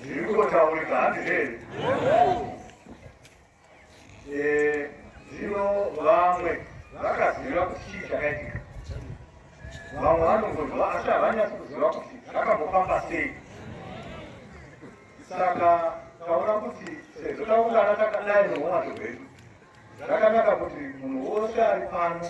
zvirikotaurika hazvizveri zvino vamwe vakaziva kuti chii chakaitika vamwe vanongonzwa asi havanyasi kuziva kuti zvakambofamba sei saka taona kuti sezvo taungana takadai nohwomwato hwedu zvakanaka kuti munhu wose ari pano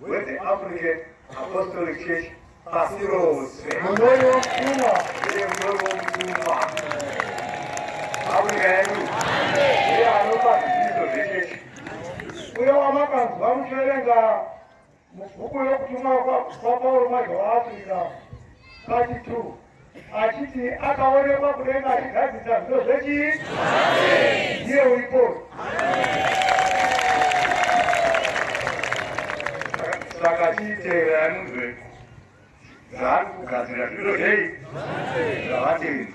Whether African Apostolic Church pasi rose mwoyo wokuwa ere mwoyo wokuwa afrika yedu iye anopa zvidzidzo zvechechi uye wamakanzwa muchiverenga mubhuku yokutumwa kwapauro mwacho waafrika 32 achiti akaonekwa kudenga achigadzisa zvido zvechii ndiye uripo saka chiiteera munzwe zvaari kugadzira zvido zvei zvavatendi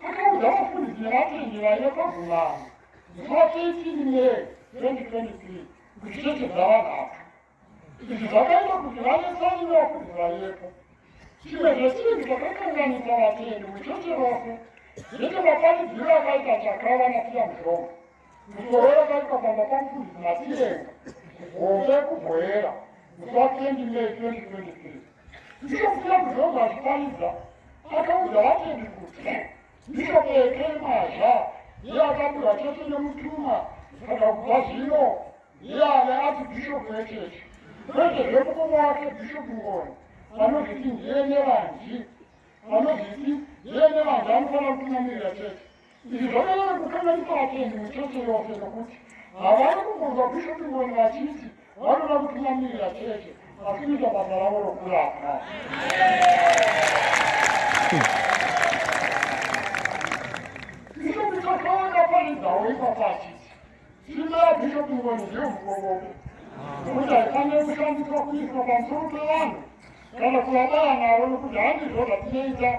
Kunoda kukurudzira vatendi vaive pagungano zuva 18 May 2023 kuchengetedza vanhu ava. Izvi zvakaita kuti vane tsaruwo kuti vayepo. Chimwe zvechinhu chakakanganisa vatendi mucheche rose zvete maparidziro akaita chakava natiya muzhonga musoro yakaitwa pamba pamufundisi matirenga hombe kubhoera zuva 20 May 2023 Ndiko kuda Jehovha achiparidza, akaudza vatendi kuti ndiko beke mazha iye akabura cheche nemutumwa kana kubva zvino iye ave ati bhishopu wechechi kwete zvemukoma wake bhishopu ngoni vanozviti ndiye nevanji vanozviti ndiye nevanji anofanira kutungamirira chechi Izvi zvakanyanya kukanganisa vatendi vechechi yose nokuti havana kumbonzwa Bishopi Ngoni vachiti vanoda kutungamirira chechi asi kuita basa ravo rokurapa. Bishopi Chakao akaparidzawo ipapo achiti simba raBishopi Ngoni ndiyo mukombomo nokuti haifanire kushandiswa kuiswa pamusoro pevanhu kana kuvabaya navo nokuti handizvo zvatinoita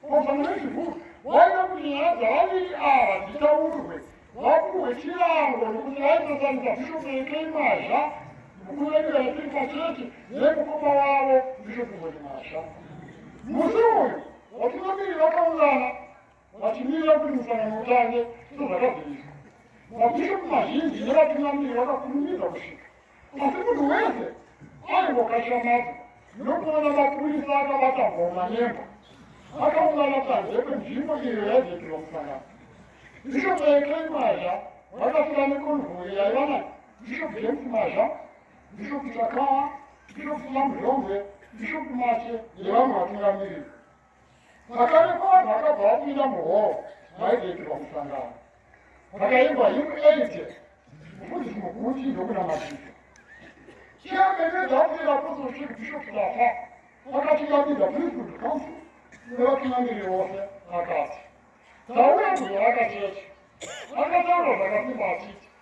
Kubva mune zviguru vaida kuti nyaya dzavaviri ava dzitaurwe vapuhwe chirango nokuti vaitosanisa bhishopuekei mazha mukuru vedu vaipirika chete nemukoma wavo bishopuvoni mazha musi uyu vatungamiri vakaungana vachimirira kuti musangano utange sezvakabviriswa mabhishopu mazhinji nevatungamiri vakakurumidza kusvika Asi munhu wese aingokashamapo nokuona mapurisa akabata homa nemba akaungana panze penzvimbo iyo yaizoitirwa musangano. Bishop Ekei Mazha vakasvika nekonvoi yaiva na Bishop James Mazha, Bishop Chakawa, Bishop Sam Zhongwe, Bishop Mache nevamwe vatungamiriri. Pakarepo vanhu vakabva vapinda muhoro maizoitirwa musangano. Pakaimbwa hymn age mbuzi mukuti ndokunamatisa. Chiakendedza kuti vapostori Bishop Lafa vakatungamidza Priesthood Council nevatungamiri vose vakati, Tauya kuzovaka chechi. Akataura zvakasimba achiti,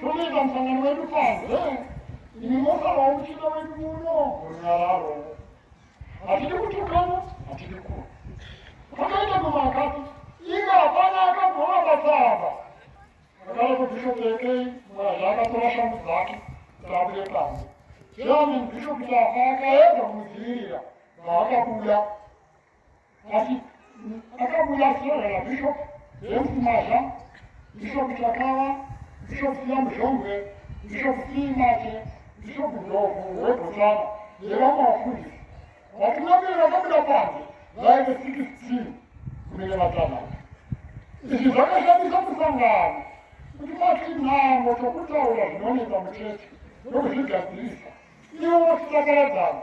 Tonoita musangano wedu paze ini mosava uchida wedu uno runyararo hatidi kutukana hatidi kuru tonoita kumakati inga hapana akagona basa ava akala kubishopekei mwazi akatora shangu dzake tabude panze chairman bishop tafa akaedza kumudzivirira maakabuda akabuda zera yabishop james mazha bishop chakava bishop siyamuzhombwe bishop siimate bishop ndlovu webhotana nevamwe vafundisi vatungamiri vakabuda panze vaive 16 kumene vatanhatu izvi zvakashandisa musangano kuti matinhango tokutaura zvinonetsa muchechi nokuzvigadzirisa iwo vachitakaradzana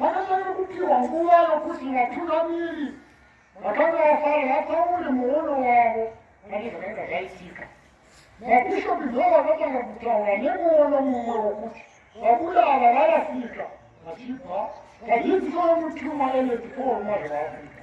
Vakafanira kupihwa nguva yokuti vatungamiri vakanga vafara vataure muono wavo pane zvakanga zvaitika. Mabhishopi ndivo vakatanga kutaura nemuono mumwe wokuti vabuda ava varasika vachibva padzidziso yomutumwa Ellett Paul mazvavafika.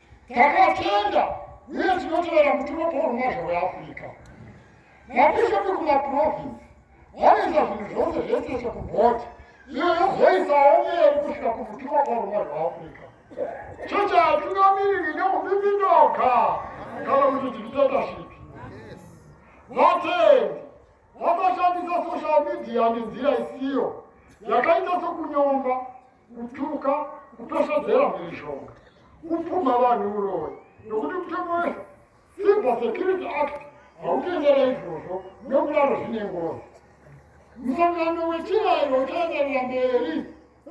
Takatenda uye tinotevera mutumo paurumazho rweAfrica. Mabhishopi kumapurovinsi vanoisa zvinhu zvose zvecheche kubhodhi iyo yozoisawo mberi kusvika kumutumo paurumazho rweAfrica. Chechi hatungamiriri nekupipindoka kana kuti dictatorship. Vatendi vakashandisa social media nenzira isiyo yakaita sokunyomba kutuka kutosedzera mhirizhonga kupfuma vanhu uroyi nokuti mutemo wese cyber security act hautendera izvozvo nokudaro zvine ngozi musangano wechirayiro uchaenderera mberi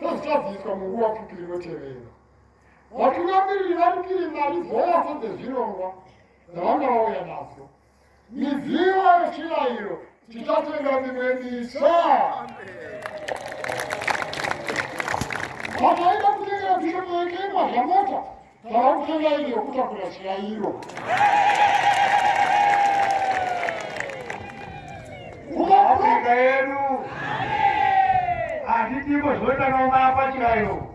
sezvichaziviswa munguva pfupi rinotevera vatungamiriri vari kiri mari dzose dzezvirongwa dzavanga vauya nadzo Midziyo yechirayiro tichatenga mimwe misa. Pataida kutengera bhishopu yekema zvamota tava kutenga iri yokutakura chirayiro. Afrika yedu hazvitiko zvoita naomapa chirayiro.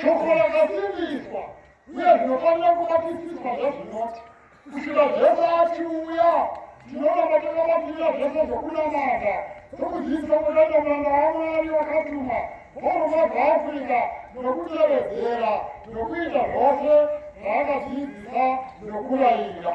Shoko rakasimbiswa uye zvinofanira kubatisiswa zvezvinoti kusvika Jesu achiuya tinoramba takabatirira zvese zvokunamata tokudzidzisa kudaita muranda wamwari wakatuma voruma zvaafrica nokutevedzera nokuita zvose zvaakadzidzisa nokurayira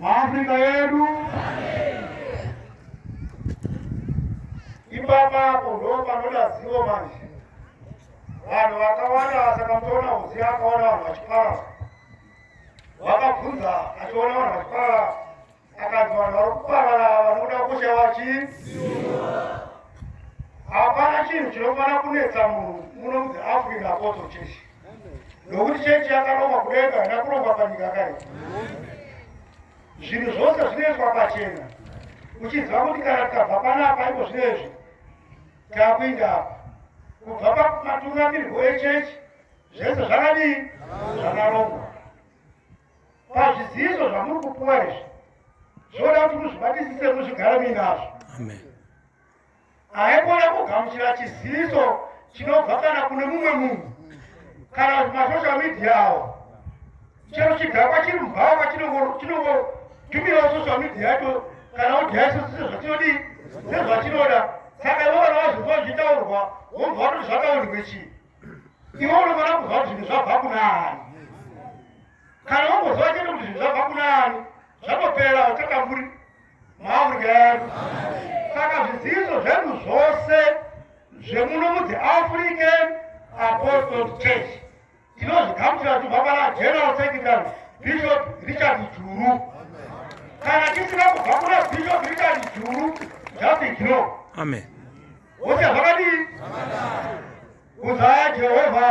Maafrika yedu ipapako ndo panoda zivo manje vanhu vakawanda vasakamboona uzi akaona vanhu vachipara wakabvunza achiona vanhu vachipara akanzi vanhu vari kuparara vanoda kusha vachi hapana chinhu chinofanira kunetsa munhu muno muziafrika akoto cheshe nokuti chechi yakarongwa kudenga haina kurongwa panyika kai zvinhu zvose zvinoitwa pachena uchiziva kuti kana tikabva panapa iko zvinezvi takuinda apa kubva pamatungamirwo echechi zvese zvakadii zvakarongwa pazviziviso zvamuri kupuwa izvi zvoda kuti muzvibatisise muzvigara muinazvo haikona kugamuchira chiziviso chinobva kana kune mumwe munhu kana kuti masocial media awo chero chidhakwa chiri mubhawa chinongotumirawo social media yacho kana udya isu sise zvatinodii sezvatinoda saka ivo vana vazvinzwa zvichitaurwa wonzwa kuti zvataurwe chii ivo unofanira kuziva kuti zvinhu zvabva kuna ani kana wongoziva chete kuti zvinhu zvabva kuna ani zvatopera utakamburi Maurugero. Saka zvidzidzo zvedu zvose zvemuno mudzi African Apostolic Church tinozvigamuchira tibva pana General Secretary Bishop Richard Juru. Kana tisina kubva kuna Bishop Richard Juru, just ignore. Amen. Wote zvakadii? Kudza Jehovha.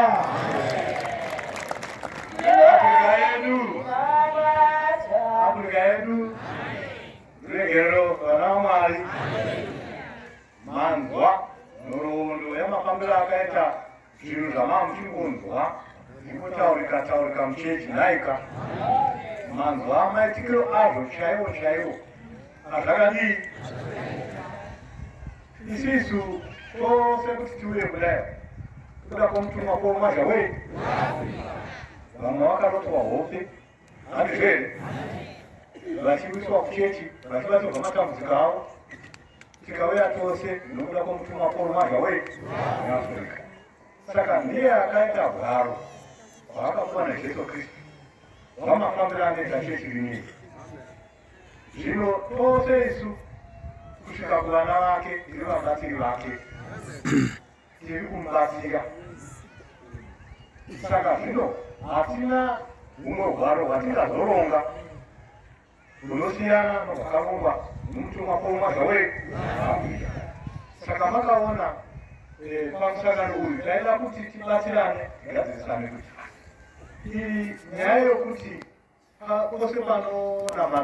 Afrika yedu. Afrika yedu. Regero vana Mwari. Manzwa nhoroondo yamafambiro akaita zvinhu zvamamuchiri kunzwa zvikutaurika taurika muchechi nhaika manzwa maitikiro azvo chaiwo chaiwo azvakadii Isisu tose kuti tiuye kudai kuda kwamutuma kuoma zvawe vamwe vakarotwa hope handizvere vachiwiswa kuchechi vachibatirwa matambudziko avo tikauya tose nokuda kwamutuma kuoma zvawe neafrica saka ndiye akaita gwaro hwaakapuwa najesu kristu hwamafambiro anoita chechi rinei Zvino tose isu kusvika kuvana vake tiri vabatsiri vake, tiri kumubatsira. Saka zvino hatina humwe ugwaro hwatingazoronga hunosiyana nohwakarongwa nomutumwa Paul Zhawere. Saka makaona eh, pamusangano uyu taida kuti tibatsirane tigadzirisane kuti iyi nyaya yokuti pose panonamatwa